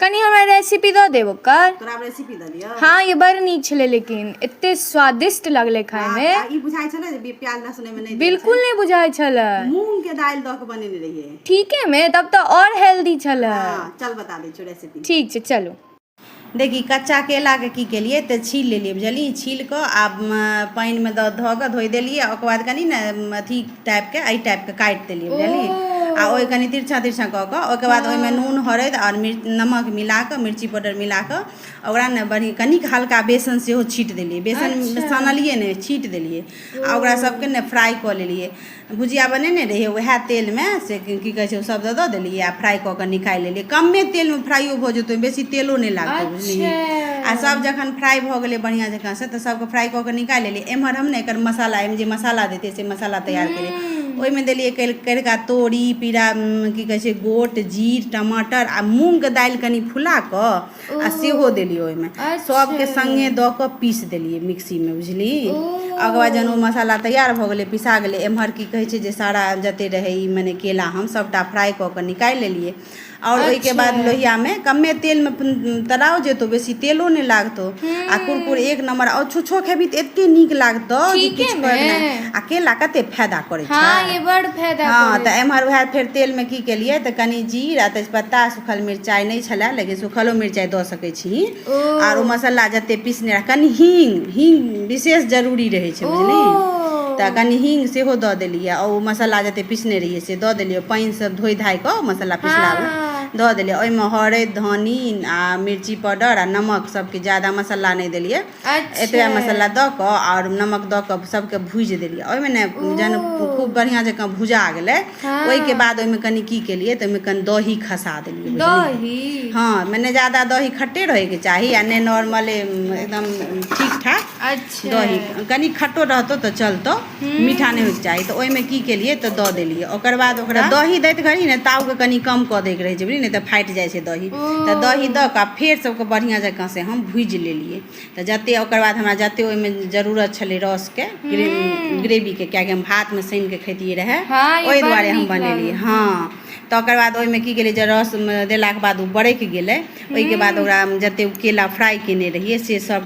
कनि हमरा रेसिपी दऽ देब ओकर तोरा हम रेसिपी दऽ दियौ हँ ये बड़ नीक छलै लेकिन एते स्वादिष्ट लगलै खायमे आ ई बुझाइ छलै जे बी- प्याज लहसुन एहिमे नहि देल बिल्कुल नहि बुझाइ छलै छै। मूंग के दालि दऽ के बनेने रहियै ठीकेमे तब तऽ आओर हेल्दी छलै हाँ चल बता दै छियौ रेसिपी ठीक छै चलू देखी कच्चा केलाके की केलियै तऽ छील लेलियै बुझलियै छील कऽ आ म, पानिमे दऽ धऽ कऽ धोइ देलियै आ ओकर बाद कनि ने म, अथी टाइपके एहि टाइपके काटि देलियै बुझलियै आ ओहि कनि तिरछा तिरछा कऽ कऽ ओहिके बाद हँ। ओहिमे नून हरैद आओर मिर्च नमक मिला कऽ मिर्ची पाउडर मिला कऽ ओकरा ने बढ़ि कनिक हल्का बेसन सेहो छीट देलियै बेसन अच्छा सानलियै नहि छीट देलियै ओ आ ओकरा सबके ने फ्राइ कऽ लेलियै भुजिया बनेने रहियै वएह तेलमे से की कहै छै ओ सब दऽ दऽ देलियै आ फ्राइ कऽ कऽ निकालि लेलियै कमे तेलमे फ्राइयो भऽ जेतै ओहिमे बेसी तेलो नहि लागतै बुझलियै अच्छा आ सब जखन फ्राइ भऽ गेलै बढ़ियां जकाँ से तऽ सबके फ्राइ कऽ के निकालि लेलियै एम्हर हम ने एकर मसाला एहिमे जे मसाला देतै से मसाला तैयार करै ओहिमे देलियै करिका तोरी पीरा की कहै छै गोट जीर टमाटर आ मूँगके दालि कनि फुला कऽ आ सेहो देलियै ओहिमे सभके सङ्गे दऽ कऽ पीस देलियै मिक्सीमे बुझली ओकर बाद जहन ओ मसाला तैयार भऽ गेलै पिसा गेलै एम्हर की कहै छै जे सारा जतेक रहै ई मने केला हम सभटा फ्राइ कऽ कऽ निकालि लेलियै आओर ओहिके बाद अच्छा लोहियामे कमे तेलमे तराउ जेतौ बेसी तेलो नहि लागतौ आ कुरकुर एक नम्बर आ छुछो खेबही तऽ एते नीक लागतौ जे ठीके किछु ने कहैके नहि आ केला कते फायदा करै छै हँ ये बड़ फायदा हँ करै तऽ छै एमहर वएह फेर तेलमे की केलियै तऽ कनि जीर आ तेजपत्ता सूखल मिरचाइ नहि छलै लेकिन सूखलो मिरचाइ दऽ सकै छीही आर ओ मसाला जते पीसने रह कनि हींग हींग विशेष जरूरी रहै छै बुझली तऽ कनि हींग सेहो दऽ देलियै आ ओ मसाला जते पीसने रहियै से दऽ देलियै पानि सब धोइ धाय कऽ मसाला पिसला मे हँ धऽ देलियै ओहिमे हरैद धनी आ मिर्ची पाउडर आ नमक सबके ज्यादा मसाला नहि देलियै एतबे अच्छा मसाला दऽ कऽ आओर नमक दऽ कऽ सबके भुजि देलियै ओहिमे ने जहन खूब बढ़िआँ जकाँ भुजा गेलै ओहिके बाद ओहिमे कनि की केलियै तऽ ओहिमे कनि दही खसा देलियै दही हँ मने ज्यादा दही खट्टे रहैके चाही आ नहि नॉर्मले एकदम ठीक ठाक अच्छा दही कनि खट्टो रहतौ तऽ चलतौ मीठा नहि होइके चाही तऽ ओहिमे की केलियै तऽ दऽ देलियै ओकर बाद ओकरा दही दैत घड़ी ने तावके कनि कम कऽ दैके रहै छै बुझलियै ने तऽ फाटि जाइ छै दही तऽ दही दऽ कऽ फेर सबके बढ़िआँ जकाँ से हम भुजि लेलियै तऽ जतेक ओकर बाद हमरा जतेक ओहिमे जरूरत छलै रसके ग्रेवीके किएकि हम भातमे सानि कऽ खैतियै रहए हँ, ई ओहि बड़ दुआरे हम नीक बनेलियै लागल। हँ तकर बाद ओहिमे की गेलै जे रस देलाके बाद ओ बरकि गेलै ओहिके बाद ओकरा जतेक केला फ्राइ केने रहियै से सब